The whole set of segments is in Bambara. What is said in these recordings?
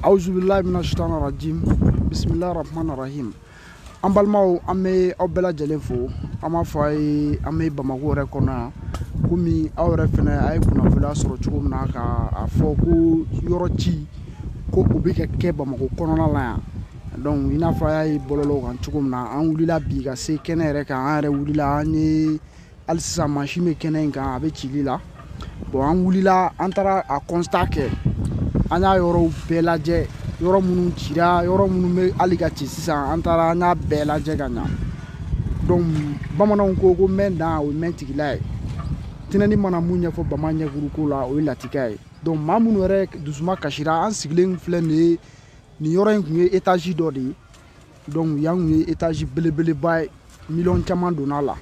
awuzu bilayi mina sitana rajim bisimilayi rahman rahim an balimaw an bɛ aw bɛɛ lajɛlen fo an b'a fɔ a ye an bɛ bamako yɛrɛ kɔnɔ yan komi aw yɛrɛ fɛnɛ a ye kunnafoniya sɔrɔ cogo min na ka a fɔ ko yɔrɔ ci kow bɛ ka kɛ bamako kɔnɔna la yan donc i n'a fɔ a y'a ye bɔlɔlɔw kan cogo min na an wulila bi ka se kɛnɛ yɛrɛ kan an yɛrɛ wulila an ye hali sisan mansin bɛ kɛnɛ in kan a bɛ cili la bon an wulila an taara a constat kɛ an y'a yɔrɔw bɛɛ lajɛ yɔrɔ minnu cira yɔrɔ minnu bɛ hali ka ci sisan an taara an y'a bɛɛ lajɛ ka ɲa donc bamananw ko ko mɛn dan o ye mɛn tigila ye tinɛni mana mun ɲɛfɔ bama ɲɛkuru ko la o ye lakika ye donc maa minnu yɛrɛ dusuma kasira an sigilen filɛ nin ye nin yɔrɔ in kun ye étage dɔ de ye donc yan kun ye étage belebeleba ye miliyɔn caman donna a la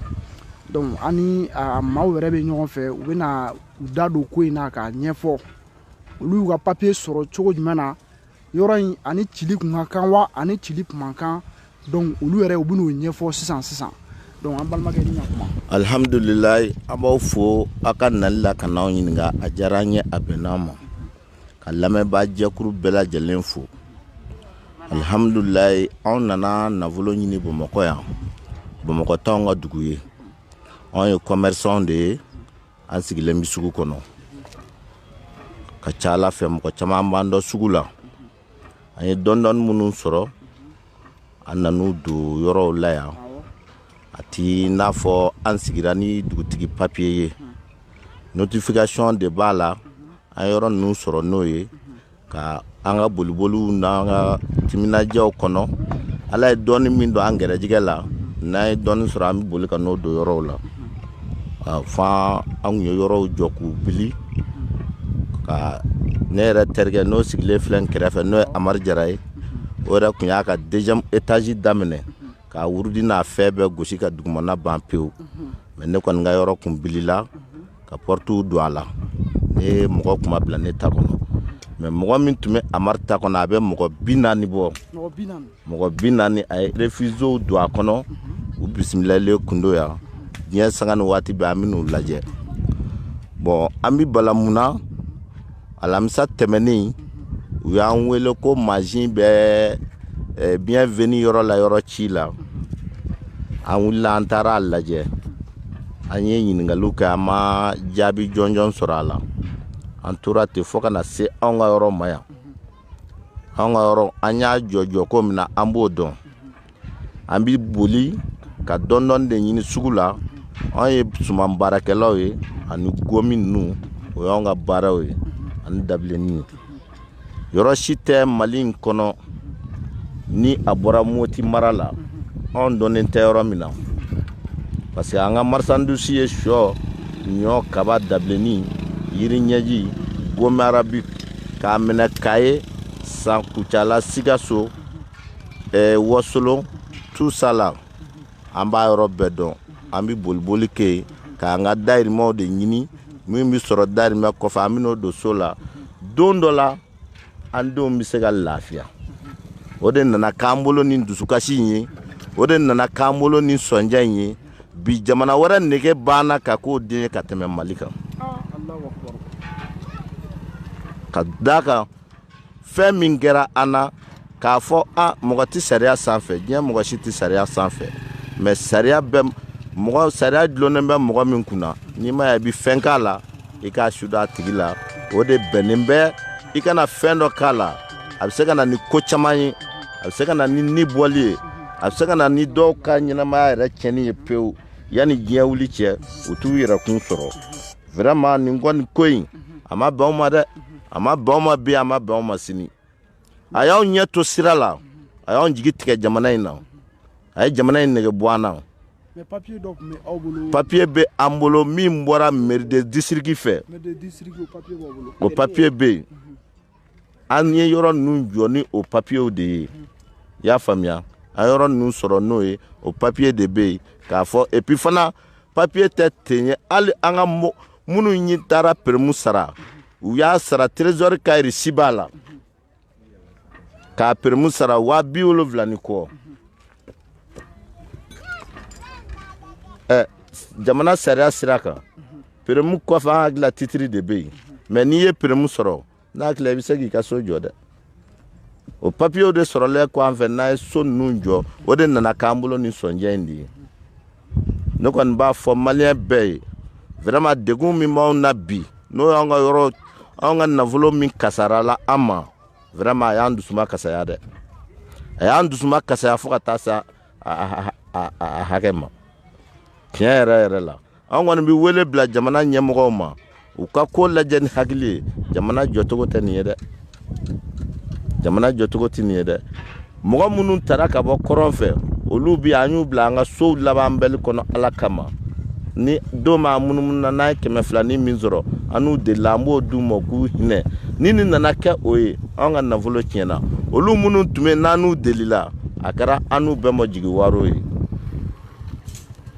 donc ani a maaw yɛrɛ bɛ ɲɔgɔn fɛ u bɛna u da don ko in na k'a ɲɛfɔ olu y'u ka papiye sɔrɔ cogo jumɛn na yɔrɔ in ani cili kun ka kan wa ani cili kun man kan donc olu yɛrɛ u bɛn'o ɲɛfɔ sisan sisan donc an balimakɛ ni ɲakuma alhamdulilayi an b'aw fo aw ka nali la ka n'anw ɲininka a diyara an ye a bɛnn'an ma ka lamɛnbaa jɛkulu bɛɛ lajɛlen fo alihamdulilayi anw nana nafolo ɲini bamakɔ yan bamakɔ t'anw ka dugu ye anw ye kɔmɛrisanw de ye an sigilen bɛ sugu kɔnɔ ka ca ala fɛ mɔgɔ caman b'an dɔn sugu la an ye dɔɔni dɔɔni minnu sɔrɔ an nan'u don yɔrɔw la yan a t'i n'a fɔ an sigira ni dugutigi papiye ye notification de b'a la an yɔrɔ ninnu sɔrɔ n'o ye ka an ka boliboliw n'an ka timinadiyaw kɔnɔ ala ye dɔɔni min don an gɛrɛjɛgɛ la n'an ye dɔɔni sɔrɔ an bɛ boli ka n'o don yɔrɔw la fo an kun ye yɔrɔw jɔ k'u bili ka ne yɛrɛ terikɛ n'o sigilen filɛ n kɛrɛfɛ n'o ye Amari Jara ye o yɛrɛ kun y'a ka deuxième étage daminɛ k'a wurudi n'a fɛn bɛɛ gosi ka dugumana ban pewu mais ne kɔni ka yɔrɔ kun bilila ka portiw don a la ne mɔgɔ kun ma bila ne ta kɔnɔ mais mɔgɔ min tun bɛ amari ta kɔnɔ a bɛ mɔgɔ bi naani bɔ mɔgɔ bi naani a ye réfugiéw don a kɔnɔ u bisimilalen kun don yan diɲɛ sanga ni waati bɛɛ an bɛ n'u lajɛ bon an bɛ bala mun na alamisa tɛmɛnen u y'an wele ko mansin bɛ eh, bienvenue yɔrɔ la yɔrɔ ci la an wulila an taara a lajɛ an ye ɲiningaliw kɛ an ma jaabi jɔnjɔn sɔrɔ a la an tora ten fo ka na se anw ka yɔrɔ ma yan anw ka yɔrɔ an y'a jɔ cogo min na an b'o dɔn an bɛ boli ka dɔndɔni de ɲini sugu la an ye suman baarakɛlaw ye ani gomi ninnu o y'an ka baaraw ye ani dabilenni ye yɔrɔ si tɛ mali in kɔnɔ ni a bɔra moti mara la anw dɔnnen tɛ yɔrɔ min na parce que an ka marisandusi ye shɔ ɲɔ kaba dabilenni yiri ɲɛji gomi arabi k'a minɛ kayi san kucala sikaso eh, wasolon tout ça là an b'a yɔrɔ bɛɛ dɔn an bɛ boliboli kɛ yen k'an ka dayirimɛw de ɲini min bɛ sɔrɔ dayirimɛ kɔfɛ an bɛn'o don so la don dɔ la an denw bɛ se ka lafiya o de nana k'an bolo ni dusukasi in ye o de nana k'an bolo ni sɔnja in ye bi jamana wɛrɛ nege b'an na ka k'o den ye ka tɛmɛ mali kan ka d'a kan fɛn min kɛra an na k'a fɔ a mɔgɔ tɛ sariya sanfɛ diɲɛ mɔgɔ si tɛ sariya sanfɛ mɛ sariya bɛ mɔgɔ sariya dulonnen bɛ mɔgɔ min kun na n'i m'a ye i bɛ fɛn k'a la i k'a suda a tigi la o de bɛnnen bɛ i kana fɛn dɔ k'a la a bɛ se ka na ni ko caman ye a bɛ se ka na ni ni bɔli ye a bɛ se ka na ni dɔw ka ɲɛnamaya yɛrɛ tiɲɛni ye pewu yanni diɲɛ wuli cɛ u t'u yɛrɛkun sɔrɔ Vraiment nin kɔni ko in a ma bɛn anw ma dɛ a ma bɛn anw ma bi a ma bɛn anw ma sini a y'anw ɲɛ to sira la a y'an jigi tigɛ jamana in na a ye jamana in nege bɔ an na papiye bɛ an bolo min bɔra mɛri de disiriki fɛ o papiye bɛ yen an ye yɔrɔ ninnu jɔ ni o papiyew de ye i y'a faamuya an yɔrɔ ninnu sɔrɔ n'o ye o papiye de bɛ yen k'a fɔ epi fana papiye tɛ ten ye hali an ka minnu ye taara peremu sara u y'a sara trezɔri ka resi b'a la k'a peremu sara waa bi wolonwula ni kɔ ɛ jamana sariya sira kan peremu kɔfɛ n hakili la titiri de bɛ yen mɛ n'i ye peremu sɔrɔ n hakili la i bɛ se k'i ka so jɔ dɛ o papiyew de sɔrɔlen kɔ an fana ye so ninnu jɔ o de nana k'an bolo ni sɔnja in de ye ne kɔni b'a fɔ maliyɛn bɛɛ ye vraiment degun min b'anw na bi n'o y'an ka yɔrɔ anw ka nafolo min kasarala an ma Vraiment a y'an dusuma kasaya dɛ a y'an dusuma kasaya fo ka taa se a hakɛ ma tiɲɛ yɛrɛ yɛrɛ la an kɔni bɛ wele bila jamana ɲɛmɔgɔw ma u ka ko lajɛ ni hakili ye jamana jɔcogo tɛ nin ye dɛ jamana jɔcogo tɛ nin ye dɛ mɔgɔ minnu taara ka bɔ kɔrɔn fɛ olu bi yan an y'u bila an ka sow labanbali kɔnɔ ala kama ni don ma munumununa n'an ye kɛmɛ fila ni min sɔrɔ an n'u delila an b'o d'u ma k'u hinɛ ni nin nana kɛ o ye an ka nafolo tiɲɛna olu minnu tun bɛ n'an n'u delila a kɛra an n'u bɛɛ ma jigiwaaro ye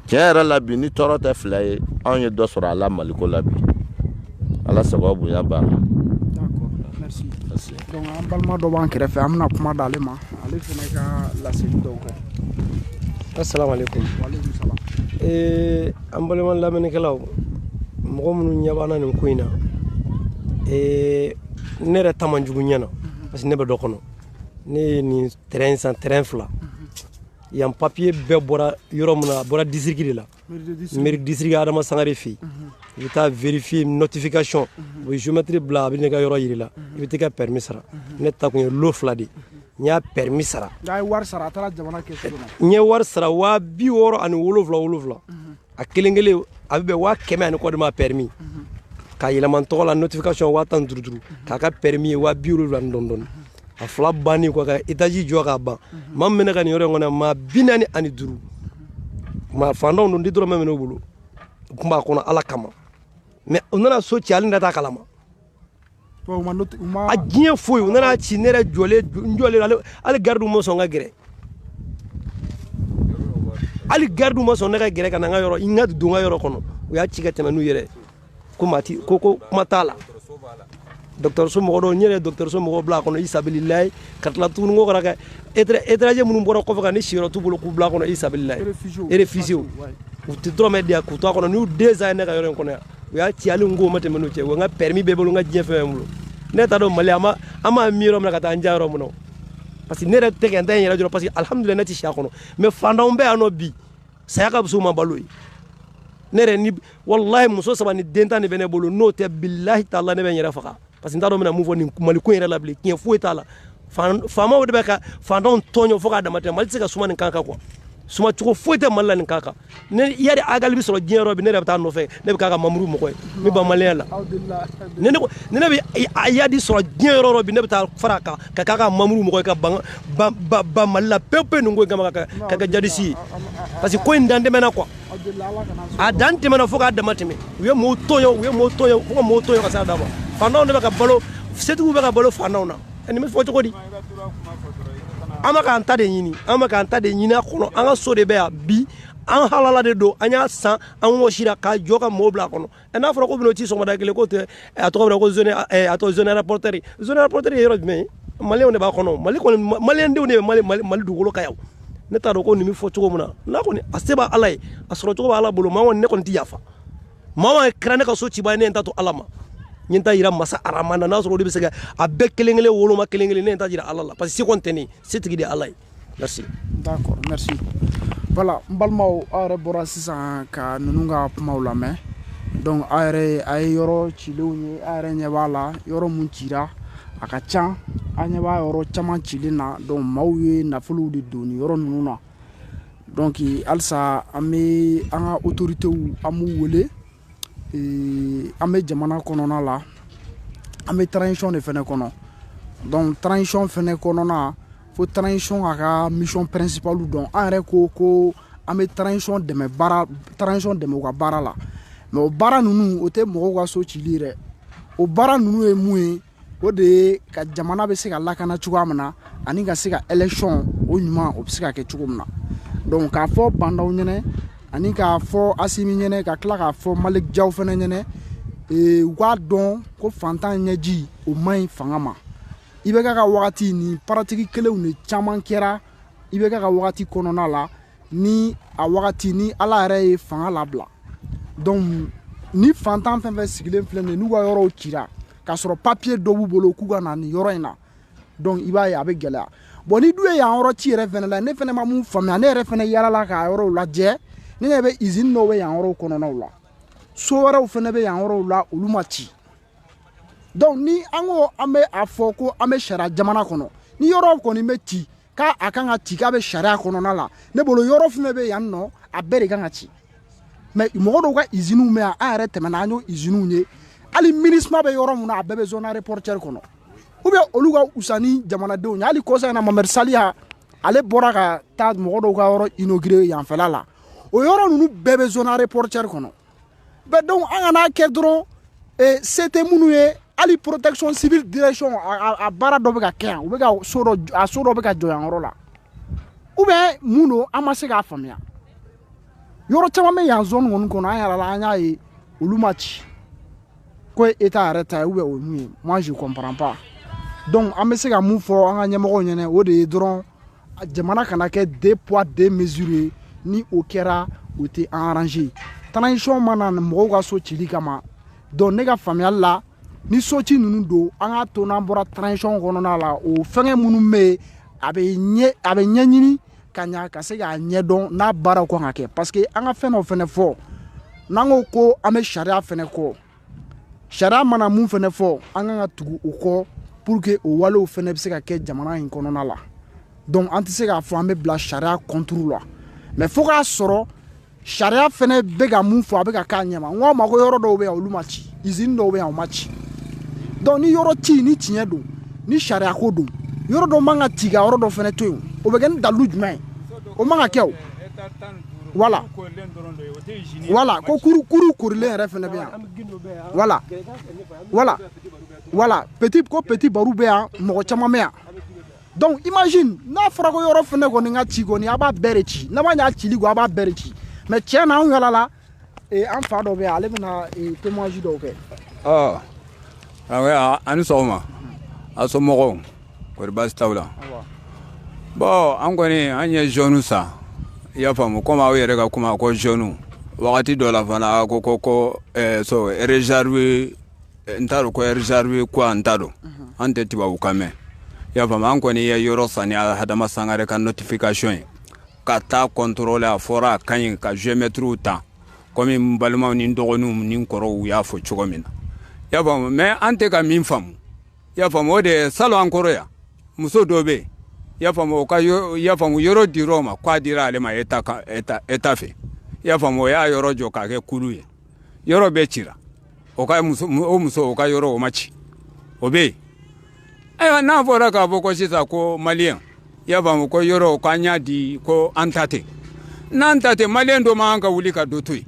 tiɲɛ yɛrɛ la bi ni tɔɔrɔ tɛ fila ye anw ye dɔ sɔrɔ a la maliko la bi ala sababu bonya b'a la donc an balima dɔ b'an kɛrɛfɛ an bɛna kuma d'ale ma ale fana ka laseli dɔw kɛ asalaamaaleykum ee an balima lamɛnnikɛlaw mɔgɔ minnu ɲɛ b'an na nin ko in na ee ne yɛrɛ ta man jugu ɲɛ na parce que ne bɛ dɔ kɔnɔ ne ye nin terrain san terrain fila yan papiye bɛɛ bɔra yɔrɔ min na a bɔra disiriki de la mairie disiriki adama sangare fɛ yen i bɛ taa vérifier notification u bɛ géomètre bila a bɛ n'i ka yɔrɔ yir'i la i bɛ t'i ka permis sara ne ta kun ye lot fila de n y'a permis sara n ye wari sara waa bi wɔɔrɔ ani wolonwula wolonwula a kelen kelen a bɛ bɛn waa kɛmɛ ani kɔ de ma permis k'a yɛlɛma n tɔgɔ la notification waa tan duuru duuru k'a ka permis ye waa bi wolonwula ni dɔɔni dɔɔni a fila banni kɔ ka etaji jɔ k'a ban maa min bɛ ne ka nin yɔrɔ in kɔnɔ maa bi naani ani duuru maa fantanw don n ti dɔrɔmɛ minɛ u bolo u tun b'a kɔnɔ ala kama mais u nana so ci hali ne t'a kalama a diɲɛ foyi u nan'a ci ne yɛrɛ jɔlen n jɔlen hali garidiw ma sɔn ka gɛrɛ hali garidiw ma sɔn ne ka gɛrɛ ka na n ka yɔrɔ n ka don n ka yɔrɔ kɔnɔ u y'a ci ka tɛmɛ n'u yɛrɛ ko maa ti ko ko kuma t'a la dɔgɔtɔrɔso mɔgɔ dɔw n yɛrɛ dɔgɔtɔrɔso mɔgɔw bila a kɔnɔ fi sabililayi ka tila tuguni ko kana kɛ étranger minnu bɔra kɔfɛ ka na siyɔrɔ t'u bolo k'u bila a kɔnɔ fi sabililayi réfugiés u tɛ dɔrɔmɛ di yan k'u to a kɔnɔ n'u deux ans ye ne ka yɔrɔ in kɔnɔ yan u y'a ci hali n ko ma tɛmɛ n'u cɛ wa n ka permis bɛ n bolo n ka diɲɛ fɛn bɛɛ bolo ne t'a dɔn mali an ma an m'a mi yɔrɔ min na ka taa an ja yɔrɔ min na parce que ne yɛrɛ tɛ ka n ta in yɛrɛ jɔrɔ parce que alhamdulilayi ne tɛ si a kɔnɔ mais fantanw bɛ yan nɔ bi saya ka fisa u ma balo ye ne yɛrɛ ni walahi muso saba ni den tan de bɛ ne bolo n'o tɛ bilahi taala ne bɛ n yɛrɛ faga parce que n t'a dɔn n bɛna mun fɔ nin mali ko yɛrɛ la bilen tiɲɛ foyi t'a la faamaw de bɛ ka fantanw tɔɲɔ fo k'a dama tɛmɛ mali tɛ se ka suma nin kan kan quoi suma cogo foyi tɛ mali la nin kan kan ni iyadi agali bɛ sɔrɔ diɲɛ yɔrɔ bi ne yɛrɛ bɛ taa a nɔfɛ ne bɛ k'a ka mamuru mɔgɔ ye n bɛ ban maliyɛn la ne ne ko ne ne bɛ iyadi sɔrɔ diɲɛ yɔrɔ yɔrɔ bi ne bɛ taa fara a kan ka k'a ka mamuru mɔgɔ ye ka ban ban ban mali la pewu pewu nin ko in kama ka kɛ ka kɛ jihadisi ye parce que ko in dan tɛmɛna quoi a dan tɛmɛna fo k'a dama tɛmɛ u ye mɔɔw tɔɲɔ u ye mɔɔw tɔɲɔ fo ka mɔɔw tɔɲɔ ka s'a dan ma fantanw de bɛ ka balo setigiw bɛ ka balo fantanw na nin bɛ fɔ cogo di an bɛ k'an ta de ɲini an bɛ k'an ta de ɲini a kɔnɔ an ka so de bɛ yan bi an halala de don an y'a san an wɔsira k'a jɔ ka mɔɔw bila a kɔnɔ ɛ n'a fɔra k'u bɛn'o ci sɔgɔmada kelen k'o tɛ a tɔgɔ bɛ ko zone a tɔgɔ zone aéroportuaire zone aéroportuaire ye yɔrɔ jumɛn ye maliyɛnw de b'a kɔnɔ mali kɔni maliyɛndenw de bɛ mali mali mali dugukolo kan yan ne t'a dɔn ko nin bɛ fɔ cogo min na n'a kɔni a se b'a ala ye a sɔrɔ cogo b'a ala bolo maa kɔni ne kɔni tɛ yafa maa kɛra ne ka so cibaa ye ne ye n ta to ala ma n ye n ta yira masa arama na n'a sɔrɔ o de bɛ se ka a bɛɛ kelen kelen woloma kelen kelen ne ye n ta jira ala la parce que se kɔni tɛ ne ye setigi de ye ala ye merci d'accord merci voilà n balimaw aw yɛrɛ bɔra sisan ka ninnu ka kumaw lamɛn donc aw yɛrɛ a ye yɔrɔ cilenw ye aw yɛrɛ ɲɛ b'a la yɔrɔ mun cira a ka can a ɲɛ b'a yɔrɔ caman cilen na donc maaw ye nafolow de don nin yɔrɔ ninnu na donc halisa an bɛ an ka autorités an b'u wele ee, an bɛ jamana kɔnɔna la an bɛ transition de fɛnɛ kɔnɔ donc transition fɛnɛ kɔnɔna fo transition a ka mission principale dɔn an yɛrɛ ko ko an bɛ transition dɛmɛ baara transition dɛmɛ u ka baara la mais o baara ninnu o tɛ mɔgɔw ka so cili ye dɛ o baara ninnu ye mun ye o de ye ka jamana bɛ se ka lakana cogoya min na ani ka se ka élection o ɲuman o bɛ se ka kɛ cogo min na donc k'a fɔ ba ndaw ɲɛnɛ ani k'a fɔ asimi ɲɛnɛ ka tila k'a fɔ malik jaw fɛnɛ ɲɛnɛ ee, u k'a dɔn ko fantan ɲɛji o man ɲi fanga ma ibk ka wagati ni pratique kelenw de caman kɛra ibk ka wagati kɔnɔna la ni a wagati ni ala yɛrɛ ye fanga labila donc ni fantan fɛn fɛn sigilen filɛ nin n'u ka yɔrɔw cira k'a sɔrɔ papiye dɔ b'u bolo k'u ka na nin yɔrɔ in na donc i b'a ye a bɛ gɛlɛya bon ni dun ye yan yɔrɔ ci yɛrɛ fɛnɛ la ne fɛnɛ ma mun faamuya ne yɛrɛ fɛnɛ yalala k'a yɔrɔw lajɛ ne ɲɛ bɛ izini dɔw bɛ yan yɔrɔw kɔnɔnaw la so wɛrɛw fɛnɛ bɛ yan yɔrɔw la olu ma ci donc ni an ko an bɛ a fɔ ko an bɛ sariya jamana kɔnɔ ni yɔrɔw kɔni bɛ ci k'a a kan ka ci k'a bɛ sariya kɔnɔna la ne bolo yɔrɔ fɛn bɛ yan nɔ a bɛɛ de kan ka ci mais mɔgɔ dɔw ka iziniw bɛ yan an yɛrɛ tɛmɛna an y'o iziniw ye hali minusma bɛ yɔrɔ min na a bɛɛ bɛ zone aéroportuaire kɔnɔ ou bien olu ka wusa ni jamanadenw ye hali kɔsa in na mamɛdi saliya ale bɔra ka taa mɔgɔ dɔw ka yɔrɔ inaugurer yanfɛla la o yɔrɔ ninnu bɛɛ bɛ zone aéroportuaire kɔnɔ bɛɛ donc an kana kɛ dɔrɔn eh, se tɛ minnu ye hali protection civile direction a baara dɔ bɛ ka kɛ yan u bɛ ka so dɔ a so dɔ bɛ ka jɔ yan yɔrɔ la ou bien mun don an ma se k'a faamuya yɔrɔ caman bɛ yan zone kɔni kɔnɔ an yɛrɛ la an y'a ye olu ma ci ko état yɛrɛ ta ye ou bien o ye mun ye moi je comprends pas donc an bɛ se ka mun fɔ an ka ɲɛmɔgɔw ɲɛna o de ye dɔrɔn jamana kana kɛ deux poids deux mesures ye ni o kɛra o tɛ an arranger transition ma na mɔgɔw ka so cili kama donc ne ka faamuyali la ni so ci ninnu don an k'a to n'an bɔra transition kɔnɔna la o fɛngɛ minnu bɛ yen a bɛ ɲɛ a bɛ ɲɛɲini ka ɲa ka se k'a ɲɛdɔn n'a baaraw kan ka kɛ parce que an ka fɛn dɔ fɛnɛ fɔ n'an ko ko an bɛ sariya fɛnɛ kɔ Sariya mana mun fɛnɛ fɔ an kan ka tugu o kɔ pour que o walew fɛnɛ bɛ se ka kɛ jamana in kɔnɔna la donc an tɛ se k'a fɔ an bɛ bila sariya contre la mais fo k'a sɔrɔ sariya fɛnɛ bɛ ka mun fɔ a bɛ ka k'a ɲɛma n k'a ma ko yɔrɔ dɔw bɛ yan olu ma ci usine dɔw bɛ yan o ma ci donc ni yɔrɔ ci ni tiɲɛ don ni sariya ko don yɔrɔ dɔ man ka ci ka yɔrɔ dɔ fɛnɛ to yen o bɛ kɛ ni dalu jumɛn ye o man ka kɛ o voilà voilà ko kuru kuru korilen yɛrɛ fɛnɛ bɛ yan voilà voilà voilà petit ko petit baro bɛ yan mɔgɔ caman bɛ yan donc imagine n'a fɔra ko yɔrɔ fɛnɛ kɔni ka ci kɔni a b'a bɛɛ de ci n'a ma ɲa cili kɔ a b'a bɛɛ de ci mais tiɲɛ na anw yala la ee an fa dɔ bɛ yan ale bɛna témoignage dɔw kɛ karamɔgɔya a ni sɔgɔma a somɔgɔw kɔri baasi t'aw la bon an kɔni an ye zone san i y'a faamu komi aw yɛrɛ ka kuma ko zone wagati dɔ la fana ko ko ko so réserve n t'a dɔn ko réserve quoi n t'a dɔn an tɛ tubabukan mɛn i y'a faamu an kɔni ye yɔrɔ san ni Adama Sangare ka notification ye ka taa contrôler a fɔra a ka ɲi ka géomètres ta kɔmi balimaw ni n dɔgɔninw ni n kɔrɔw y'a fɔ cogo min na y'a faamu mais an tɛ ka min faamu y'a faamu o de salon an kɔrɔ yan muso dɔ bɛ y'a faamu ka y'a faamu yɔrɔ dir'o ma k'a dira ale ma état fɛ y'a faamu o y'a yɔrɔ jɔ k'a kɛ kulu ye yɔrɔ bɛɛ cira o ka muso o muso o ka yɔrɔ o ma ci o bɛ yen ayiwa n'a fɔra k'a fɔ ko sisan ko maliyɛn i y'a faamu ko yɔrɔ k'an y'a di ko an ta tɛ n'an ta tɛ maliyɛn dɔ man ka wuli ka dɔ to yen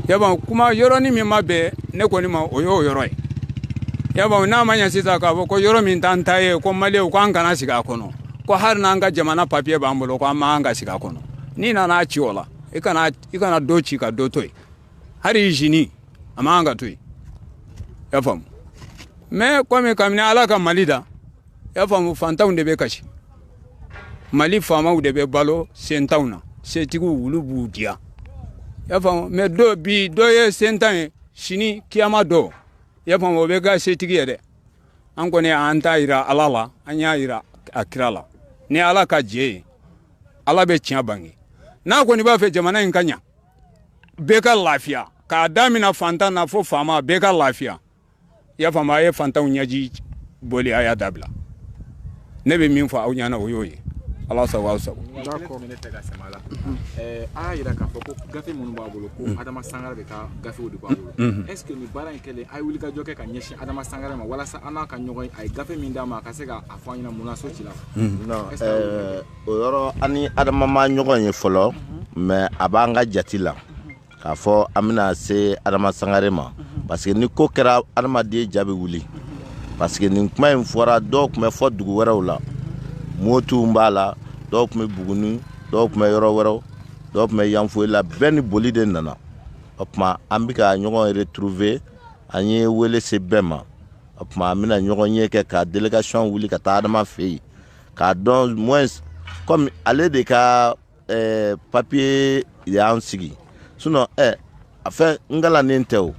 y'a faamu kuma yɔrɔnin min ma bɛn ne kɔni ma o y'o yɔrɔ ye y'a faamu n'a ma ɲɛ sisan k'a fɔ ko yɔrɔ min t'an ta ye ko maliyɛnw ko an kana sigi a kɔnɔ ko hali n'an ka jamana papiye b'an bolo ko an man ka sigi a kɔnɔ n'i nana ci o la i kana i kana dɔ ci ka dɔ to yen hali usine a man kan ka to yen y'a faamu mais kɔmi kabini ala ka mali da y'a faamu fantanw de bɛ kasi mali faamaw de bɛ balo sentanw na setigiw olu b'u diya y'a faamu mais dɔ bi dɔ ye sentan ye sini kiyama don y'a faamu o bɛ kɛ setigi ye dɛ an kɔni an t'a yira ala la an y'a yira a kira la ni ala ka jɛ ye ala bɛ tiɲɛ bange n'a kɔni b'a fɛ jamana in ka ɲa bɛɛ ka lafiya k'a damina fantan na fo faama bɛɛ ka lafiya y'a faamuya a ye fantanw ɲɛji boli a y'a dabila ne bɛ min fɔ aw ɲɛna o y'o ye ala sago aw sago a y'a jira k'a fɔ ko gafe minnu b'a bolo ko adama sangare de ka gafew de b'a bolo est ce que nin baara in kɛlen a ye wulikajɔ kɛ ka ɲɛsin adama sangare ma walasa an n'a ka ɲɔgɔn ye a ye gafe min d'a ma a ka se k'a fɔ an ɲɛna mun na so cira o yɔrɔ an ni adama ma ɲɔgɔn ye fɔlɔ mais a b'an ka jati la k'a fɔ an bɛna se adama sangare ma parce que ni ko kɛra adamaden ja bɛ wuli parce que nin kuma in fɔra dɔw tun bɛ fo dugu wɛrɛw la motuw b'a la dɔw tun bɛ buguni dɔw tun bɛ yɔrɔ wɛrɛw dɔw tun bɛ yanfoyila bɛɛ ni boli de nana o tuma an bɛ ka ɲɔgɔn retrouver an ye wele se bɛɛ ma o tuma an bɛna ɲɔgɔnye kɛ ka délégation wuli ka taa adama fɛ yen k'a dɔn moins comme ale de ka eh, papier y'an sigi sinon eh, a fɛn n galannen tɛ o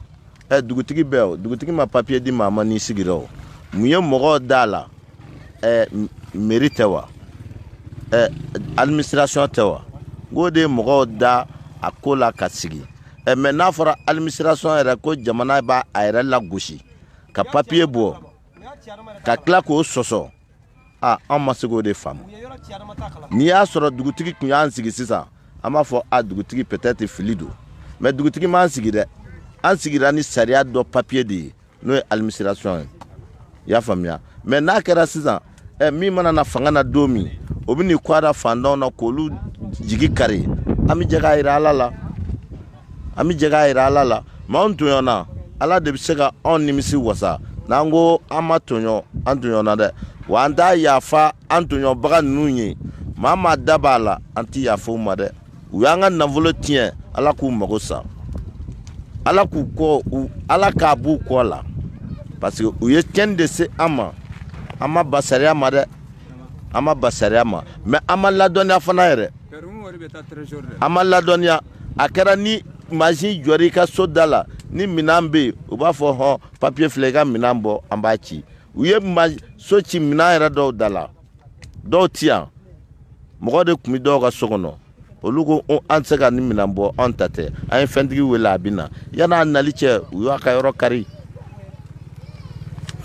eh, dugutigi bɛ o dugutigi ma papier di maa ma n'i sigira o mun ye mɔgɔw d'a la eh, mairie tɛ wa eh, administration tɛ wa n k'o de ye mɔgɔw da a ko la ka sigi eh, mais n'a fɔra administration yɛrɛ ko jamana b'a a yɛrɛ lagosi ka papier bɔ ka tila k'o sɔsɔ aa an ma se k'o de faamu n'i y'a sɔrɔ dugutigi tun y'an sigi sisan an b'a fɔ a dugutigi peut-être fili don mais dugutigi m'an sigi dɛ an sigira ni sariya dɔ papier de ye n'o ye administration ye i y'a faamuya mais n'a kɛra sisan ɛ min mana na fanga na don min o bɛ n'i kɔgɔ da fantanw na k'olu jigi kari an bɛ jɛ k'a jira ala la an bɛ jɛ k'a jira ala la mais anw tɔɲɔna ala de bɛ se ka anw nimisi wasa n'an ko an ma tɔɲɔ an tɔɲɔna dɛ wa an t'a yafa an tɔɲɔbaga ninnu ye maa maa da b'a la an tɛ yafa u ma dɛ u y'an ka nafolo tiɲɛ ala k'u mago sa ala k'u kɔ u ala k'a b'u kɔ la parce que u ye cɛn de se an ma an ma ban sariya ma dɛ an ma ban sariya ma mais an ma ladɔnniya fana yɛrɛ an ma ladɔnniya a kɛra ni mansin jɔra i ka so da la ni minɛn bɛ yen u b'a fɔ hɔn papier filɛ i ka minɛn bɔ an b'a ci u ye so ci minɛn yɛrɛ dɔw da la dɔw ti yan mɔgɔ de tun bɛ dɔw ka so kɔnɔ olu ko an tɛ se ka nin minɛn bɔ an ta tɛ an ye fɛntigi wele a bɛ na yann'a nali cɛ u y'a ka yɔrɔ kari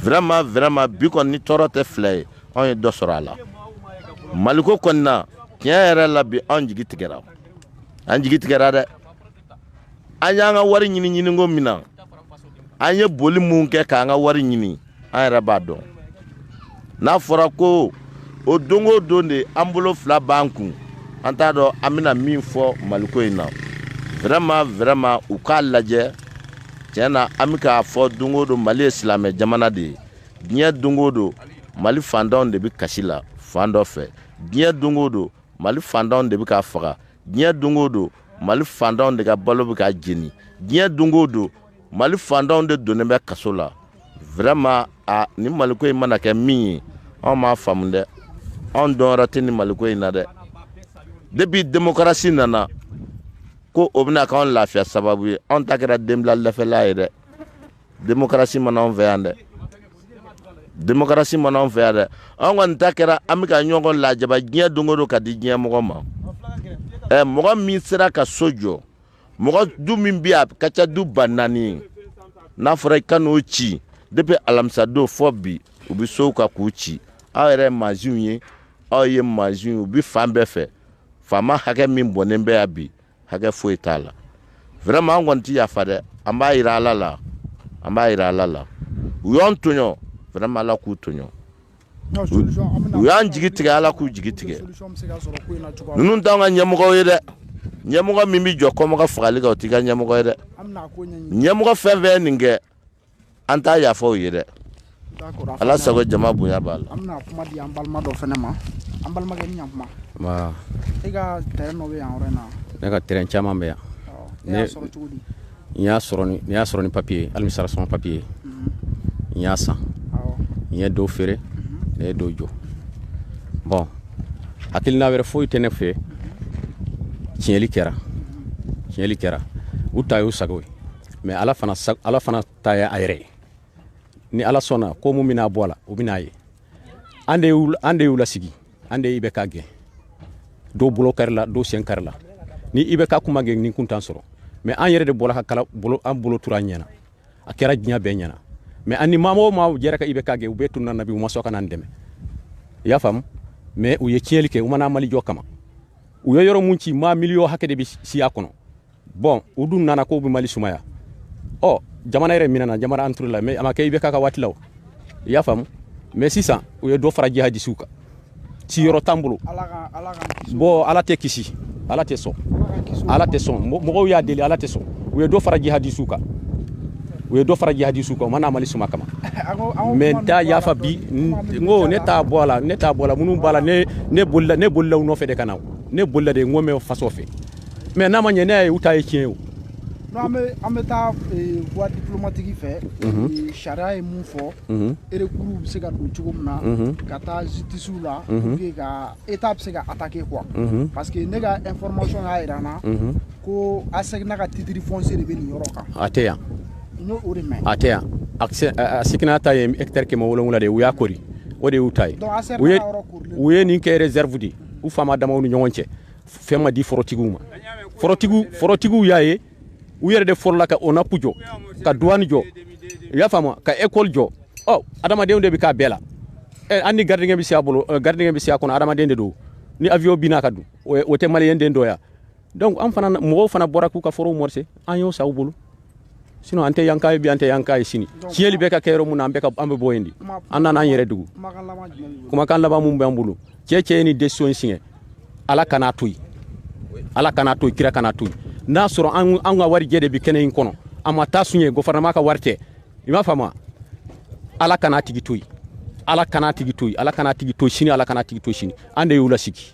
vraiment vraiment bi kɔni ni tɔɔrɔ tɛ fila ye anw ye dɔ sɔrɔ a la maliko kɔni na tiɲɛ yɛrɛ la bi anw jigi tigɛra an jigi tigɛra dɛ an y'an ka wari ɲini ɲini ko min na an ye boli mun kɛ k'an ka wari ɲini an yɛrɛ b'a dɔn n'a fɔra ko o don o don de an bolo fila b'an kun an t'a dɔn an bɛna min fɔ maliko in na vraiment vraiment u k'a lajɛ tiɲɛ na an bɛ k'a fɔ don o don mali ye silamɛ jamana de ye diɲɛ don o don mali fantanw de bɛ kasi la fan dɔ fɛ diɲɛ don o don mali fantanw de bɛ ka faga diɲɛ don o don mali fantanw de ka balo bɛ ka jeni diɲɛ don o don mali fantanw de donnen bɛ kaso la vraiment a nin maliko in mana kɛ min ye anw m'a faamu dɛ anw dɔnyɔrɔ tɛ nin maliko in na dɛ depi demokarasi nana ko o bɛna k'anw lafiya sababu ye anw ta kɛra denbila lɛfɛla ye dɛ demokarasi ma na anw fɛ yan dɛ demokarasi ma na anw fɛ yan dɛ an kɔni ta kɛra an bɛ ka ɲɔgɔn lajaba diɲɛ don o don ka di diɲɛ mɔgɔ ma ɛ mɔgɔ min sera ka so jɔ mɔgɔ du min bɛ yan ka ca du ba naani n'a fɔra i ka n'o ci depi alamisadon fɔ bi u bɛ sow kan k'u ci aw yɛrɛ ye masinw ye aw ye masinw ye u bɛ fan bɛɛ fɛ faama hakɛ min bɔnnen bɛ yan bi hakɛ foyi t'a la vraiment an kɔni tɛ yafa dɛ an b'a jira ala la an b'a jira ala la u y'an tɔɲɔ vraiment ala k'u tɔɲɔ u y'an jigi tigɛ ala k'u jigi tigɛ ninnu t'an ka ɲɛmɔgɔw ye dɛ ɲɛmɔgɔ min bɛ jɔ kɔmɔgɔ fagali kan o t'i ka ɲɛmɔgɔ ye dɛ ɲɛmɔgɔ fɛn fɛn ye nin kɛ an t'a yafa o ye dɛ ala sago jama bonya b'a la an bɛna kuma di an balima dɔ fana ma an balimakɛ ni ɲakuma e ka tɛrɛn dɔ bɛ yan yɔrɔ in na ne ka tɛrɛn caman bɛ yan ne y'a sɔrɔ cogo di n y'a sɔrɔ ni n y'a sɔrɔ ni papiye ye administration papiye mhm. n y'a san n ye dɔw feere mhm. ne ye dɔw jɔ bɔn hakilina wɛrɛ foyi tɛ ne fɛ mhm. tiɲɛli kɛra tiɲɛli kɛra u ta y'u sago ye mɛ ala fana ala fana ta ye a yɛrɛ ye ni ala sɔnna ko min bɛna bɔ a la o bɛna ye an de an de y'u lasigi an de ye IBK gɛn dɔw bolo karila dɔw sen karila ni IBK kun ma gɛn nin kun t'an sɔrɔ mɛ an yɛrɛ de bɔra ka kala bolo an bolo turu an ɲɛ na a kɛra diɲɛ bɛɛ ɲɛ na mɛ an ni maa o maa jɛra ka IBK gɛn u bɛɛ tununna bi u ma sɔn ka n'an dɛmɛ i y'a faamu mɛ u ye tiɲɛli kɛ u ma na mali jɔ kama u ye yɔrɔ min ci maa miliyɔn hakɛ de bɛ si a kɔnɔ bɔn u dun nana k'u bɛ mali sumaya ɔ jamana yɛrɛ minɛna jamana an turula mɛ a ma kɛ IBK ka waati la o i y'a faamu mɛ sisan u ye dɔ fara jihadisiw kan siyɔrɔ t'an bolo bɔn ala tɛ kisi ala tɛ sɔn ala tɛ sɔn mɔgɔw y'a deli ala tɛ sɔn u ye dɔ fara jihadisiw kan u ye dɔ fara jihadisiw kan u ma na mali suma kama mɛ n t'a yafa bi n ko ne t'a bɔ a la ne t'a bɔ a la minnu b'a la ne bolila ne bolila u nɔfɛ de ka na ne bolila de n ko mɛ faso fɛ mɛ n'a ma ɲɛ ne ye u ta ye tiɲɛ o an bɛ taa eh, voie diplomatique fɛ mhm. eh, sariya ye mun fɔ mhm. recours bɛ se ka don cogo min na mhm. ka taa justice la pour que ka état bɛ se ka attaquer quoi parce que ne ka information y'a jira n na ko ASECNA ka titre foncier de bɛ nin yɔrɔ kan a tɛ yan n y'o de mɛn a tɛ yan ASECNA ta ye hectare kɛmɛ wolonwula de ye u y'a kori o de y'u ta ye u ye nin kɛ réserve de ye u faama damaw ni ɲɔgɔn cɛ fɛn ma di forotigiw ma forotigiw y'a ye u yɛrɛ de fɔlɔla ka onapu jɔ ka duwani jɔ i y'a faamu ka ekɔli jɔ ɔ adamadenw de bɛ k'a bɛɛ la eh, an ni gardien bɛ se a bolo eh, gardien bɛ si a kɔnɔ adamaden de don ni avion binna a kan dun o tɛ maliyɛn den dɔ ya donc an fana mɔgɔw fana bɔra k'u ka forow morse an y'o san u bolo sinon an tɛ yanka ye bi an tɛ yanka ye sini tiɲɛli bɛ ka kɛ yɔrɔ mun na an bɛ ka an bɛ bɔ yen de an nana an yɛrɛ dugu kumakan laban mun b'an bolo cɛ o cɛ ye nin decision siɲɛ ala kan'a to yen ala kan'a to yen kira kan'a to yen n'a sɔrɔ an an ka warijɛ de bɛ kɛnɛ in kɔnɔ an ma taa sonyɛ gɔfɛrɛnaman ka wari tɛ i m'a faamu ala kan'a tigi to yen ala kan'a tigi to yen ala kan'a tigi to sini ala kan'a tigi to sini an de y'u lasigi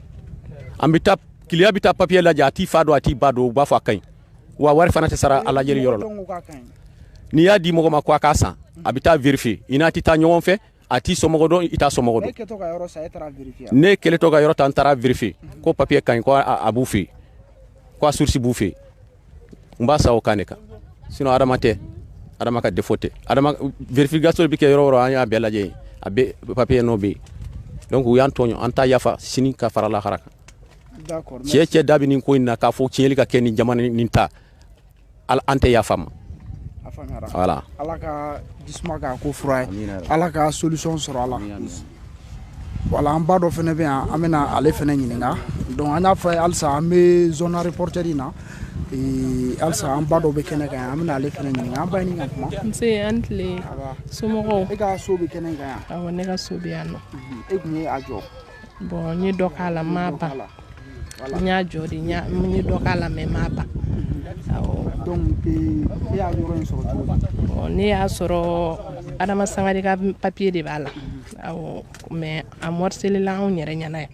an bɛ taa kiliya bɛ taa papiye lajɛ a t'i fa dɔn a t'i ba dɔn u b'a fɔ a ka ɲi wa wari fana tɛ sara a lajɛli yɔrɔ la n'i y'a di mɔgɔ ma ko a k'a san a bɛ taa vérifier i n'a tɛ taa ɲɔgɔn fɛ a t'i somɔgɔ dɔn i t'a somɔgɔ dɔn ne kɛlentɔ ka yɔrɔ ta n taara vérifier ko papiye ka ɲi ko a b'u fɛ yen ko a source b'u fɛ yen n b'a san o kan de kan sinon adama tɛ adama ka defo tɛ adama verification bɛ kɛ yɔrɔ o yɔrɔ an y'a bɛɛ lajɛ yen a bɛɛ papiye nɔ bɛ yen donc u y'an tɔɲɔ an t'a yafa sini ka fara lahara kan cɛ o cɛ da bɛ nin ko in na k'a fɔ tiɲɛli ka kɛ nin jamana nin ta an tɛ yafa a ma voilà ala ka jisuma k'a ko fura ye ala ka solution sɔrɔ a la wala an ba dɔ fana bɛ yan an bɛna ale fana ɲininka donc an y'a fɔ halisa an bɛ zone aéroportuaire in na halisa an ba dɔ bɛ kɛnɛ kan yan an bɛna ale fana ɲininka an ba ni ka kuma nse aw ni tile somɔgɔw e ka so bɛ kɛnɛ kan yan awɔ ne ka so bɛ yan nɔ e tun ye a jɔ bɔn n ye dɔ k'a la n m'a ban n y'a jɔ de n ye dɔ k'a la mɛ n m'a ban donc e y'a yɔrɔ sɔrɔ cogo di ne y'a sɔrɔ adama sangare ka papiye de b'a la awɔ mɛ a mɔriselila anw yɛrɛ ɲɛna yan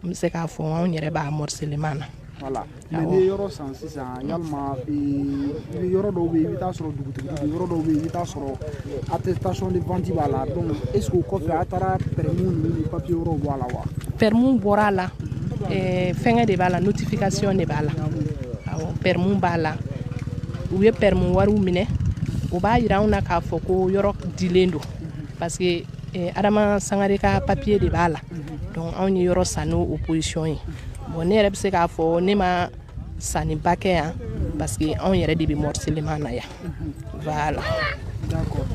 n bɛ se k'a fɔ anw yɛrɛ b'a mɔriseleman na mais n'i ye yɔrɔ san sisan yalima i bɛ yɔrɔ dɔw bɛ yen i bɛ taa sɔrɔ dugutigi yɔrɔ dɔw bɛ yen i bɛ taa sɔrɔ attestation de vente b'a la donc est ce que o kɔfɛ a taara permis ninnu ni papier wɛrɛw bɔ a la wa permis bɔra a la eh, fɛngɛ de b'a la notification de b'a la awɔ permis b'a la u ye permis wariw minɛ o b'a yira anw na k'a fɔ ko yɔrɔ dilen don parce que eh, adama sangare ka papier de b'a la donc anw ye yɔrɔ san n'o position ye Bon ne yɛrɛ bɛ se k'a fɔ ne ma sanni ba kɛ yan parce que anw yɛrɛ de bɛ morcellement na yan voilà d'accord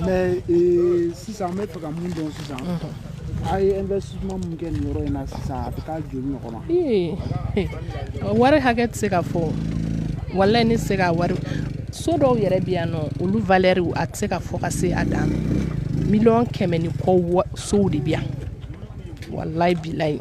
mais euh, sisan an bɛ fɛ ka mun dɔn sisan a ye investissement mun kɛ nin yɔrɔ in na sisan a bɛ taa joli ɲɔgɔn na ee wari hakɛ tɛ se ka fɔ walayi ne tɛ se ka wari so dɔw yɛrɛ bɛ yan nɔ olu valeur a tɛ se ka fɔ ka se a dan miliyɔn kɛmɛ ni kɔ sow de bɛ yan walayi bilayi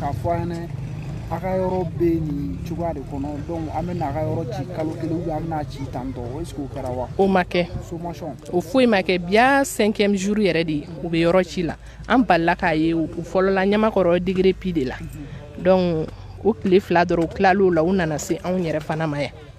k'a fɔ an ɲɛna a ka yɔrɔ bɛ nin cogoya de kɔnɔ donc an bɛ n'a ka yɔrɔ ci kalo kelen ou bien an bɛ n'a ci tan tɔ est ce que o kɛra wa o ma kɛ sommation o foyi ma kɛ bi y'a cinquième jour yɛrɛ de ye u bɛ yɔrɔ ci la an balala k'a ye u fɔlɔla ɲamakɔrɔ degere pi de la donc o tile fila dɔrɔn u tilal'o la u nana se anw yɛrɛ fana ma yan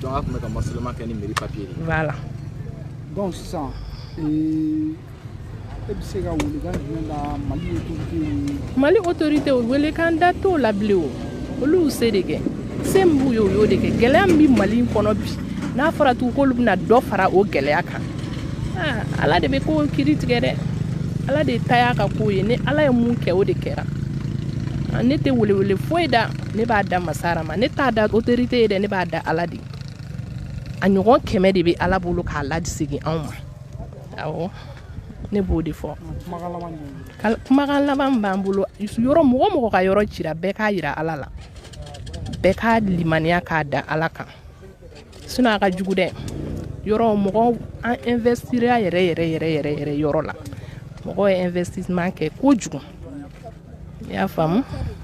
donc a tun bɛ ka morcellement kɛ ni mairie papier de voilà donc sisan e bɛ se ka welekan jumɛn da mali autorité mali autorité welekan da t'o la bilen o olu y'u se de kɛ se min b'u ye o y'o de kɛ gɛlɛya min bɛ mali kɔnɔ bi n'a fɔra tugun k'olu bɛna dɔ fara o gɛlɛya kan ala de bɛ ko kiri tigɛ dɛ ala de ta y'a ka ko ye ni ala ye mun kɛ o de kɛra ne tɛ welewele foyi da ne b'a da masa ala ma ne t'a da autorité ye dɛ ne b'a da ala de a ɲɔgɔn kɛmɛ de bɛ ala bolo k'a lasegin anw ma awɔ ne b'o de fɔ kumakan laban b'an bolo yɔrɔ mɔgɔ mɔgɔ ka yɔrɔ cira bɛɛ k'a yira ala la bɛɛ ka limaniya k'a da ala kan sinon a ka jugu dɛ yɔrɔ mɔgɔ an investira yɛrɛ yɛrɛ yɛrɛ yɛrɛ yɛrɛ yɔrɔ la mɔgɔ ye investissement kɛ kojugu y'a faamu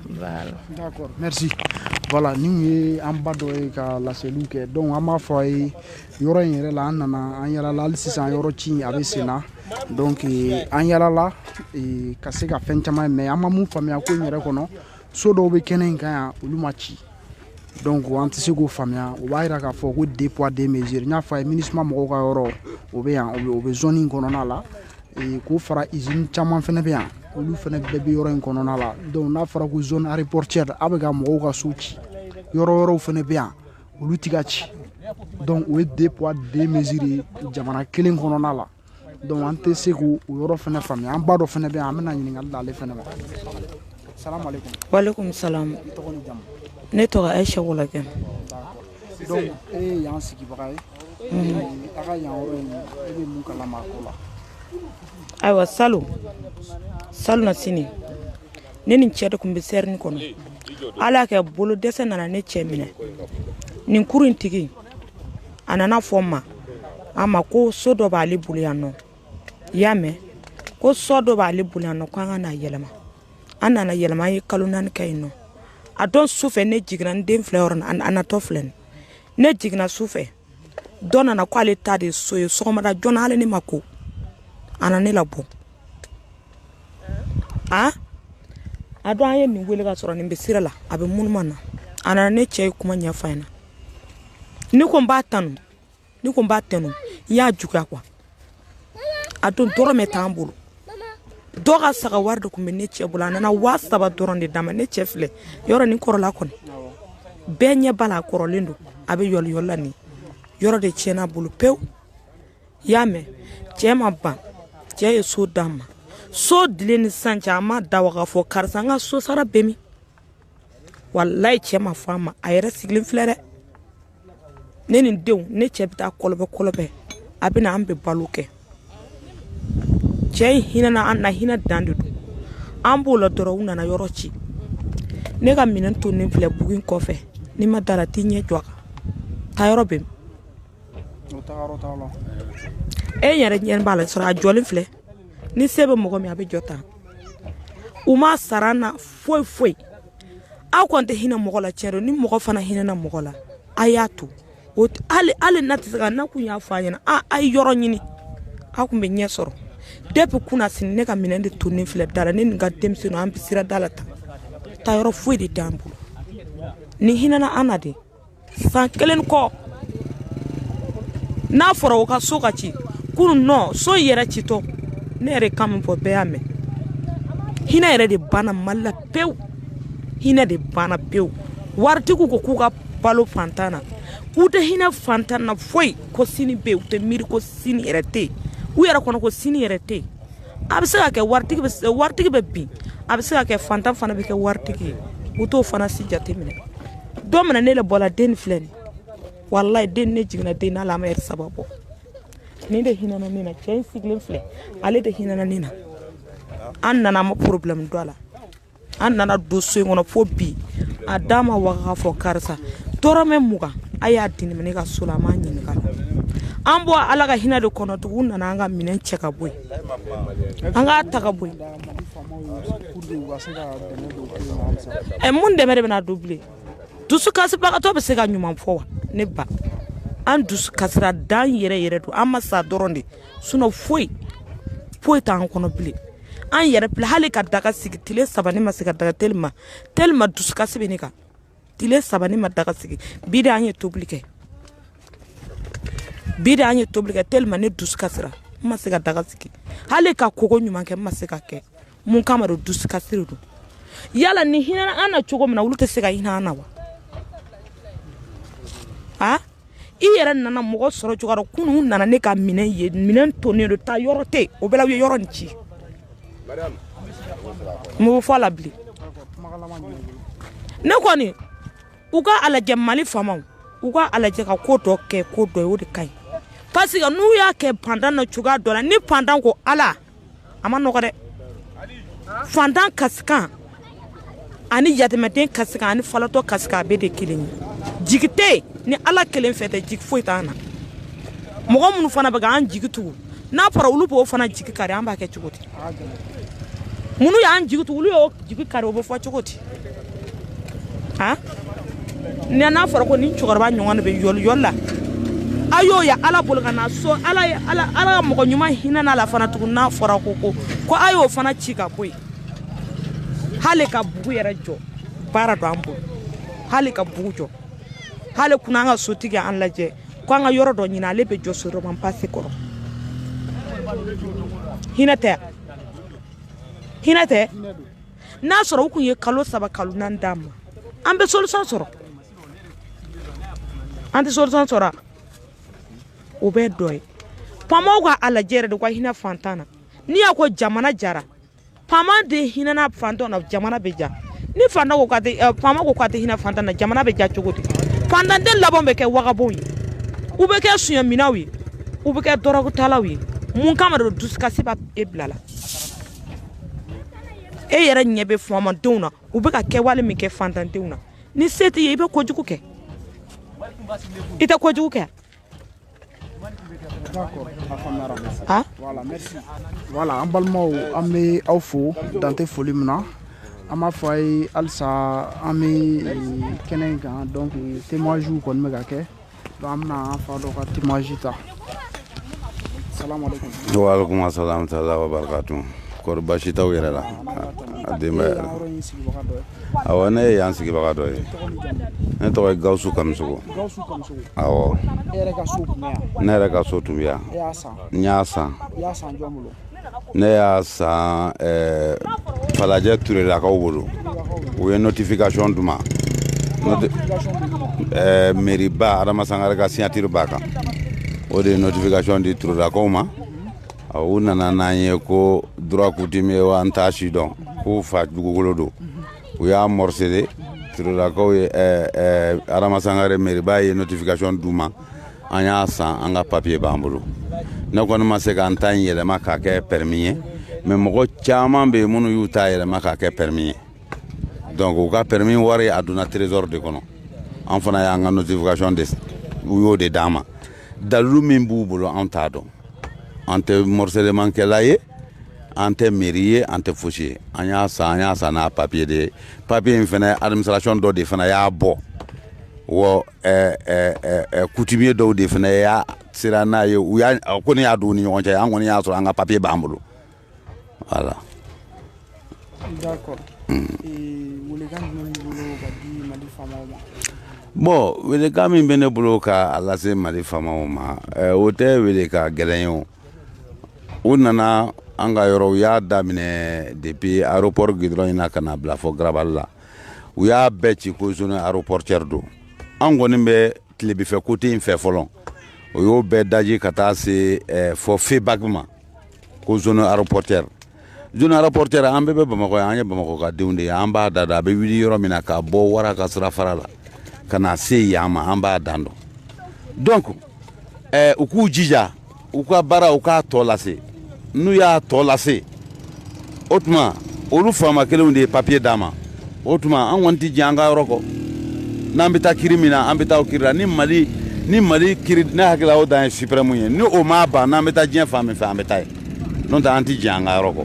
voilà d'accord merci voilà nin ye an ba dɔ ye ka laseliw kɛ donc an b'a fɔ a ye yɔrɔ in yɛrɛ la an nana an yalala hali sisan yɔrɔ ci a bɛ sen na donc eh, an yalala eh, ka se ka fɛn caman ye mais an ma mun faamuya ko in yɛrɛ kɔnɔ so dɔw bɛ kɛnɛ in kan yan olu ma ci donc an tɛ se k'o faamuya o b'a yira k'a fɔ ko deux poids deux mesures n y'a fɔ a ye minusma mɔgɔw ka yɔrɔ o bɛ yan o bɛ zone in kɔnɔna la k'o fara usine caman fana bɛ yan olu fana bɛɛ bɛ yɔrɔ in kɔnɔna la donc n'a fɔra ko zone aéroportuaire aw bɛ ka mɔgɔw ka so ci yɔrɔ wɛrɛw fana bɛ yan olu tɛ ka ci donc o ye deux poids deux mesures ye jamana kelen kɔnɔna la donc an tɛ se k'o yɔrɔ fana faamuya an ba dɔ fana bɛ yan an bɛna ɲininkali da ale fana ma salamu aleykum walekum salam tɔgɔ ni jamu ne tɔgɔ ayisa wolakɛ donc e ye yan sigibaga ye a ka yan yɔrɔ in e bɛ mun kalama a ko la ayiwa salon salon na sini ne ni cɛ de tun bɛ sɛrini kɔnɔ ala y'a kɛ bolo dɛsɛ nana ne cɛ minɛ nin kuru in tigi a nana fɔ ma a ma ko so dɔ b'ale bolo yan nɔ i y'a mɛn ko so dɔ b'ale bolo yan nɔ ko an ka na yɛlɛma an nana yɛlɛma an ye kalo naani kɛ yen nɔ a don su fɛ ne jiginna n den filɛ yɔrɔ na a natɔ filɛ nin ne jiginna su fɛ dɔ nana ko ale ta de so ye sɔgɔmada joona hali ne ma ko a na ne labɔ a a don an ye nin wele ka sɔrɔ nin bɛ sira la a bɛ munuma na a nana ne cɛ ye kuma ɲɛfɔ a ɲɛna ne ko n b'a tanu ne ko n b'a tanu n y'a juguya quoi a don dɔrɔmɛ t'an bolo dɔ ka saga wari de tun bɛ ne cɛ bolo a nana waa saba dɔrɔn de d'a ma ne cɛ filɛ yɔrɔ nin kɔrɔla kɔni bɛɛ ɲɛ b'a la a kɔrɔlen don a bɛ yɔliyɔli la nin yɔrɔ de tiɲɛna a bolo pewu i y'a mɛn cɛ ma ban cɛ ye so d'a ma so dilen ni sisan cɛ a ma da wa k'a fɔ karisa n ka so sara bɛ min walayi cɛ ma fɔ a ma a yɛrɛ sigilen filɛ dɛ ne ni denw ne cɛ bɛ taa kɔlɔbɛ kɔlɔbɛ a bɛ na an bɛ balo kɛ cɛ in hinɛna an na hinɛ dan de don an b'o la dɔrɔn u nana yɔrɔ ci ne ka minɛn tonnen filɛ bugu in kɔfɛ n'i ma d'a la t'i ɲɛ jɔ a kan taa yɔrɔ bɛ min e yɛrɛ ɲɛ b'a la sɔrɔ a jɔlen filɛ ni se bɛ mɔgɔ min a bɛ jɔ tan u ma sara an na foyi foyi aw kɔni tɛ hinɛ mɔgɔ la tiɲɛ don ni mɔgɔ fana hinɛna mɔgɔ la a y'a to hali n'a tɛ se ka na kun y'a fɔ a ɲɛna a ye yɔrɔ ɲini an kun bɛ ɲɛ sɔrɔ depuis kunasini ne ka minɛn de tonnen filɛ da la ne ni n ka denmisɛnninw an bɛ sira da la tan taa yɔrɔ foyi de t'an bolo nin hinɛna an na de san kelen kɔ n'a fɔra o ka so ka ci kunun nɔ so yɛrɛ citɔ ne yɛrɛ kan min fɔ bɛɛ y'a mɛn hinɛ yɛrɛ de banna mali la pewu hinɛ de banna pewu waritigiw ko k'u ka balo fantan na k'u tɛ hinɛ fantan na foyi ko sini bɛ yen u tɛ miiri ko sini yɛrɛ tɛ yen u yɛrɛ kɔnɔ ko sini yɛrɛ tɛ yen a bɛ se ka kɛ waritigi bɛ bin a bɛ se ka kɛ fantan fana bɛ kɛ waritigi ye u t'o fana si jateminɛ don min na ne labɔra den filɛ nin walayi den ne jiginna den na a ma lɛrɛ saba bɔ nin de hinɛna ne na cɛ in sigilen filɛ ale de hinɛna ne na an nana a ma problème don a la an nana don so in kɔnɔ fo bi a da ma waga k'a fɔ karisa dɔrɔmɛ mugan a y'a di ne ma ne ka so la a m'a ɲininka an bɔ ala ka hinɛ de kɔnɔ tugu u nana an ka minɛn cɛ ka bɔ yen an k'a ta ka bɔ yen ɛ mun dɛmɛ de bɛna don bilen dusu kasibagatɔ bɛ se ka ɲuman fɔ wa ne ba an dusu kasira dan yɛrɛ yɛrɛ don an ma sa dɔrɔn de sinon foyi foyi t'an kɔnɔ bilen an yɛrɛ filɛ hali ka daga sigi tile saba ne ma se ka daga tellement tellement dusukasi bɛ ne kan tile saba ne ma daga sigi bi de an ye tobili kɛ bi de an ye tobili kɛ tellement ne dusukasira n ma se ka daga sigi hali ka kogo ɲuman kɛ n ma se ka kɛ mun kama don dusukasi de don yala nin hinɛna an na cogo min na olu tɛ se ka hinɛ an na wa a i yɛrɛ nana mɔgɔ sɔrɔ cogoya dɔ kunun nana ne ka minɛn ye minɛn tonnen don taa yɔrɔ tɛ o bɛɛ la u ye yɔrɔ nin ci mun bɛ fɔ a la bilen ne kɔni u ka a lajɛ mali faamaw u ka a lajɛ ka ko dɔ kɛ ko dɔ ye o de ka ɲi parce que n'u y'a kɛ fantan na cogoya dɔ la ni fantan ko ala a ma nɔgɔ dɛ fantan kasikan ani yatimɛden kasikan ani falatɔ kasikan a bɛɛ de kelen ye jigi tɛ ni ala kelen fɛ tɛ jigi foyi t'an na mɔgɔ minnu fana bɛ k'an jigi tugu n'a fɔra olu b'o fana jigi kari an b'a kɛ cogo di minnu y'an jigi tugu olu y'o jigi kari o bɛ fɔ cogo di a nka n'a fɔra ko nin cɛkɔrɔba ɲɔgɔn de bɛ yɔli yɔli la a y'o ye ala bolo ka na so ala ala ka mɔgɔ ɲuman hinɛna a la fana tugun n'a fɔra ko ko ko a y'o fana ci ka bɔ yen hali ka bugu yɛrɛ jɔ baara don an bolo hali ka bugu jɔ hali kunun an ka sotigi an lajɛ ko an ka yɔrɔ dɔ ɲini ale bɛ jɔ seulement parce que kɔrɔ hinɛ tɛ hinɛ tɛ n'a sɔrɔ u tun ye kalo saba kalo naani d'a ma an bɛ solution sɔrɔ an tɛ solution sɔrɔ o bɛ dɔ ye faamaw ka a lajɛ yɛrɛ de u ka hinɛ fantan na n'i y'a ko jamana diyara faama de hinɛna fantan na jamana bɛ diya ni fantan ko k'a tɛ eh, faama ko k'a tɛ hinɛ fantan na jamana bɛ diya cogo di fantan den laban bɛ kɛ wagabonw ye u bɛ kɛ suɲɛminɛw ye u bɛ kɛ dɔrɔgutalaw ye mun kama de dusukasi b'a e bila a la e yɛrɛ ɲɛ bɛ faamadenw na u bɛ ka kɛwale min kɛ fantandenw na ni se t'i ye i bɛ kojugu kɛ i tɛ kojugu kɛ ah? voilà an balimaw an bɛ aw fo dan tɛ foli min na an b'a fɔ a ye halisa an bɛ eh, kɛnɛ in kan donc témoignages kɔni bɛ ka kɛ donc an bɛna an fa dɔ ka témoignage ta waaleykum asalaam taala wa barakatu kɔri basi t'aw yɛrɛ la a denbaya yɛrɛ awɔ ne ye yan sigibaga dɔ ye ne tɔgɔ ye gawusu kamisogo awɔ ne yɛrɛ ka so tun bɛ yan n y'a san ne y'a san eh, falajɛ turelakaw bolo u ye notification d'u ma eh, meriba adama sangare ka signature b'a kan o de ye notification di turelakaw ma u nana n'an ye ko droit coutumier wa an t'a si dɔn k'u fa dugukolo don u y'a morcelé turelakaw ye eh, adama sangare meriba ye notification d'u ma an y'a san an ka papiye b'an bolo ne kɔni ma se ka n ta in yɛlɛma k'a kɛ pɛrɛmi ye mɛ mɔgɔ caman bɛ yen minnu y'u ta yɛlɛma k'a kɛ pɛrɛmi ye donc u ka pɛrɛmi wari a donna trésor de kɔnɔ an fana y'an ka notification de u y'o de d'an ma dalilu min b'u bolo an t'a dɔn an tɛ morcellement kɛla ye an tɛ meri ye an tɛ fosi ye an y'a san an y'a san n'a papiye de ye papiye in fana administration dɔ de fana y'a bɔ wa eh, eh, eh, eh coutumier dɔw de fana y'a sera n'a ye u y'a ko ne y'a don u ni ɲɔgɔn cɛ an kɔni y'a sɔrɔ an ka papier b'an bolo voilà d'accord mm. welekan jumɛn b'i bolo ka di mali faamaw ma bon welekan min bɛ ne bolo ka a lase mali faamaw ma eh, o tɛ welekan gɛlɛn ye o u nana an ka yɔrɔ u y'a daminɛ depuis aéroport gidɔrɔn in na ka na bila fɔ garabali la u y'a bɛɛ ci ko zone aéroportuaire don an kɔni bɛ tilebinfɛ kote in fɛ fɔlɔ o y'o bɛɛ daji ka taa se eh, fɔ febak ma ko zone aéroportuaire zone aéroportuaire an bɛɛ bɛ bamakɔ yan an ye bamakɔ ka denw de ye an b'a dan dɔn a bɛ wuli yɔrɔ min na ka bɔ wara ka sira fara la ka na se yan ma an b'a dan dɔn donc eh, u k'u jija u ka baara u k'a tɔ lase n'u y'a tɔ lase o tuma olu faama kelenw de ye papiye d'an ma o tuma an kɔni tɛ jɛn an ka yɔrɔ kɔ n'an bɛ taa kiri min na an bɛ taa o kiri la ni mali ni mali kiri ne hakilila o dan ye suprɛmu ye ni o m'a ban n'an bɛ taa diɲɛ fan min fɛ an bɛ taa yen n'o tɛ an tɛ jɛn an ka yɔrɔ kɔ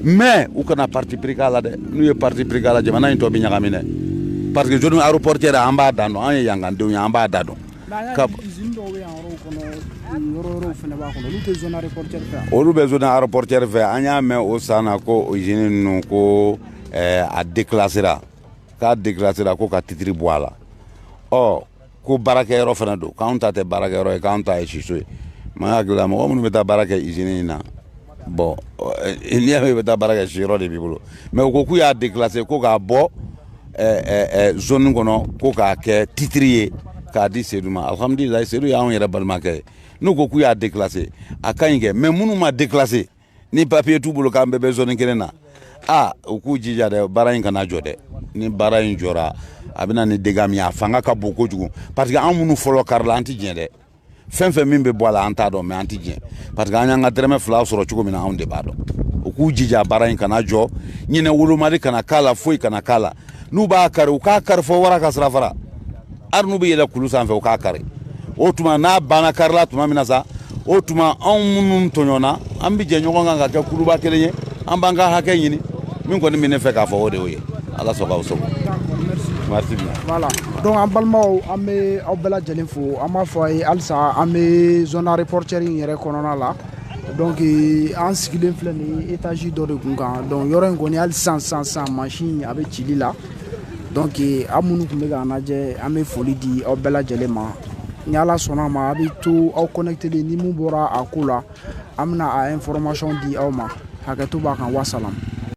mɛ u kana parti pris k'a la dɛ n'u ye parti pris k'a la jamana in tɔ bɛ ɲagami dɛ parce que zone aéroportuaire an b'a dan dɔn an ye yan ka denw ye an b'a dan dɔn Olu bɛ zone aéroportuaire fɛ an y'a mɛn o san na ko usine ninnu ko a déclasséra k'a déclasséra ko ka titre bɔ a la ɔ ko baarakɛyɔrɔ fana don k'anw ta tɛ baarakɛyɔrɔ ye k'anw ta ye siso ye, n ma hakili la mɔgɔ minnu bɛ taa baara kɛ usine in na bɔn n'i y'a mɛn i bɛ taa baara kɛ siyɔrɔ de b'i bolo mɛ u ko k'u y'a dekilase ko k'a bɔ zoni kɔnɔ ko k'a kɛ titiri ye k'a di sedu ma alihamudulila sedu y'anw yɛrɛ balimakɛ ye n'u ko k'u y'a dekilase a ka ɲi kɛ mɛ minnu ma dekilase ni papiye t'u bolo k'an bɛɛ bɛ zoni kelen na aa u k'u jija dɛ baara in kana jɔ dɛ ni baara in jɔra a bɛ na ni dega min ye a fanga ka bon kojugu parce que an minnu fɔlɔ karila an tɛ diɲɛ dɛ fɛn fɛn min bɛ bɔ a la an t'a dɔn mɛ an tɛ diɲɛ parce que an y'an ka dɛrɛmɛ fila sɔrɔ cogo min na anw de b'a dɔn u k'u jija baara in kana jɔ ɲɛnawolomali kana k'a la foyi kana k'a la n'u b'a kari u k'a kari fo wara ka sirafara hali n'u bɛ yɛlɛ kulu sanfɛ u k'a kari o tuma n'a banna kari la tuma min na sa o tuma anw minnu tɔɲɔna an bɛ jɛ ɲɔgɔn kan ka kɛ kuluba kelen ye an b'an ka hakɛ ɲini min kɔni bɛ ne fɛ k'a fɔ o de y'o ye ala sago aw sago dɔnke an balimaw an bɛ aw bɛɛ lajɛlen fo an b'a fɔ aw ye halisa an bɛ zoni ayeropɔritiyɛri in yɛrɛ kɔnɔna la dɔnke an sigilen filɛ nin ye etazi dɔ de kun kan dɔnke yɔrɔ in kɔni hali sisan masin a bɛ cili la dɔnke aw minnu tun bɛ k'an lajɛ an bɛ foli di aw bɛɛ lajɛlen ma ni ala sɔnna a ma a bɛ to aw kɔnɛkitelen ni min bɔra a ko la an bɛna a ɛnfɔrimasɔn di aw ma hakɛto b'a kan wasalamu